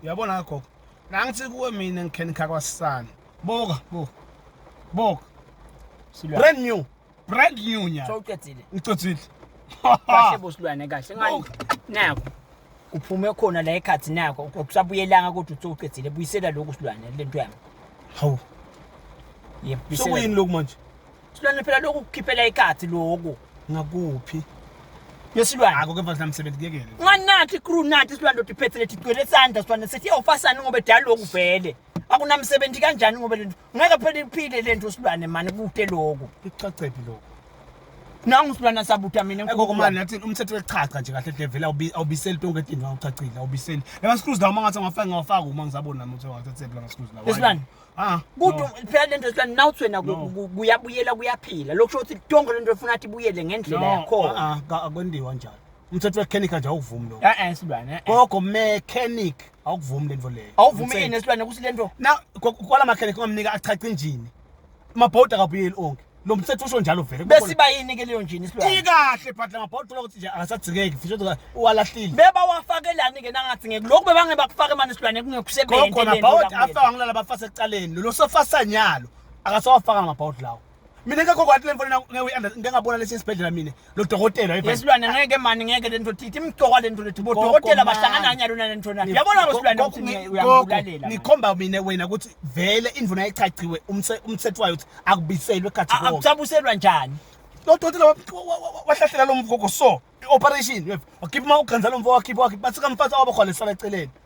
uyabona gogo nangithi kuwe mina ngikhenikha kwasisana buka buka buka brand new brand new nya so uqedile ngicedile kahle bosilwane kahle ngani nako uphume khona la ekhathi nako ukusabuyelanga kodwa uthi uqedile buyisela lokhu silwane lento yami hawu yebuyisela sokuyini lokhu manje silwane phela lokhu kukhiphela ikhathi lokhu ngakuphi yesilwane ako kepha sinamsebenzi kuyekele ngani nathi crew nathi silwane ndoda iphethe lethi igcwele isandla silwane sethi yawufasani ngoba edala lokhu vele akunamsebenzi kanjani ngoba lento ngeke phela iphile lento silwane mani kude lokhu icacephi lokhu nangu silwana sabuta mina ekokomani nathi umthetho wechacha nje kahle hle vele awubiseli tonke into awuchachile awubiseli lama screws lawo mangathi ngafaka ngawafaka uma ngisabona nami ukuthi ngawathathephi lama screws lawo Ah, kuthi no. phela lento esilani nawuthi wena ku- No. ku- kuyabuyela kuyaphila lokho kusho ukuthi tonke lento efuna athi ibuyele ngendlela No, yakhona ah, ah, ka- akwendiwa njalo umthetho wekhenikha nje awukuvumi lo eh silwane eh, eh. gogo mechanic awukuvumi lento leyo awuvumi Umthetho. ini esilwane ukuthi lento na ko- kwala makhenikha ungamnika achaca injini mabhodi akabuyeli onke lo mthetho usho njalo vele besiba yini ke leyo njini isilwane ikahle but la mabhodwa uthola ukuthi nje akasagcikeki futhi uthi uwalahlile beba wafakelani ke nangathi ngeke lokhu bebange bakufake manje isilwane kungekusebenzi khona mabhodwa afaka ngilala bafase ekuqaleni lo sofasanyalo akasawafaka ngamabhodwa lawo mina ngekho kwathi le mfana ngeke uyanda ngeke ngabona lesi sibhedlela mina lo dokotela hayi yesilwane ngeke mani ngeke lento thithi imgcoka lento lethi bo dokotela bahlangana kanye lona lento na yabona wesilwane ukuthi uyangulalela ngikhomba mina wena ukuthi vele indvuna echachiwe umthetho wayo ukuthi akubiselwe khathi konke akusabuselwa njani lo dokotela wahlahlela lo mgogo so operation wakhipha uma uganza lo mfo wakhipha wakhipha bathi kamfazi awabakho lesala eceleni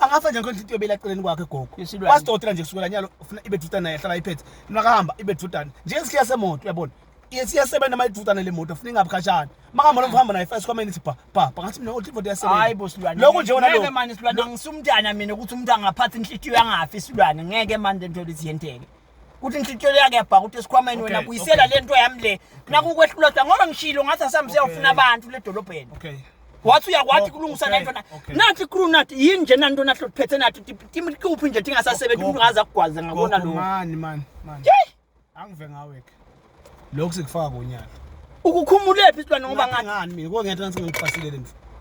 angafa nje nkonje into yobela eceleni kwakhe gogo Yesilwane. wasidotela nje kusukela nyalo ufuna ibe dudane naye hlala iphethe makahamba ibe dudane njengesikhiya semoto uyabona isiyasebenza uma idudane le moto funa ingabi khatshana makahamba noma uhamba naye first comment bha bha bha ngathi mina othi imoto iyasebenza hayi bo silwane lokho nje wona ngeke lokho manje silwane angisumntana mina ukuthi umuntu angaphatha inhlitiyo yangafi silwane ngeke manje into lithi yenteke kuthi inhlityelo yakhe yabhaka ukuthi esikhwameni wena buyisela le nto yami le nakukwehlula sa ngoba ngishilo ngathi asambe siyawufuna abantu le dolobheni wathi uyakwathi kulungisa le nto nathi crew nathi yini nje nanto nathi lotiphethe nathi tikuphi nje tingasasebenzi umuntu ngaze akugwaze ngakona lo mani mani mani angive ngaweke lokhu sikufaka konyaka ukukhumulephi silwane ngoba ngathi ngani mina kongenhla nsingakufasilele mfo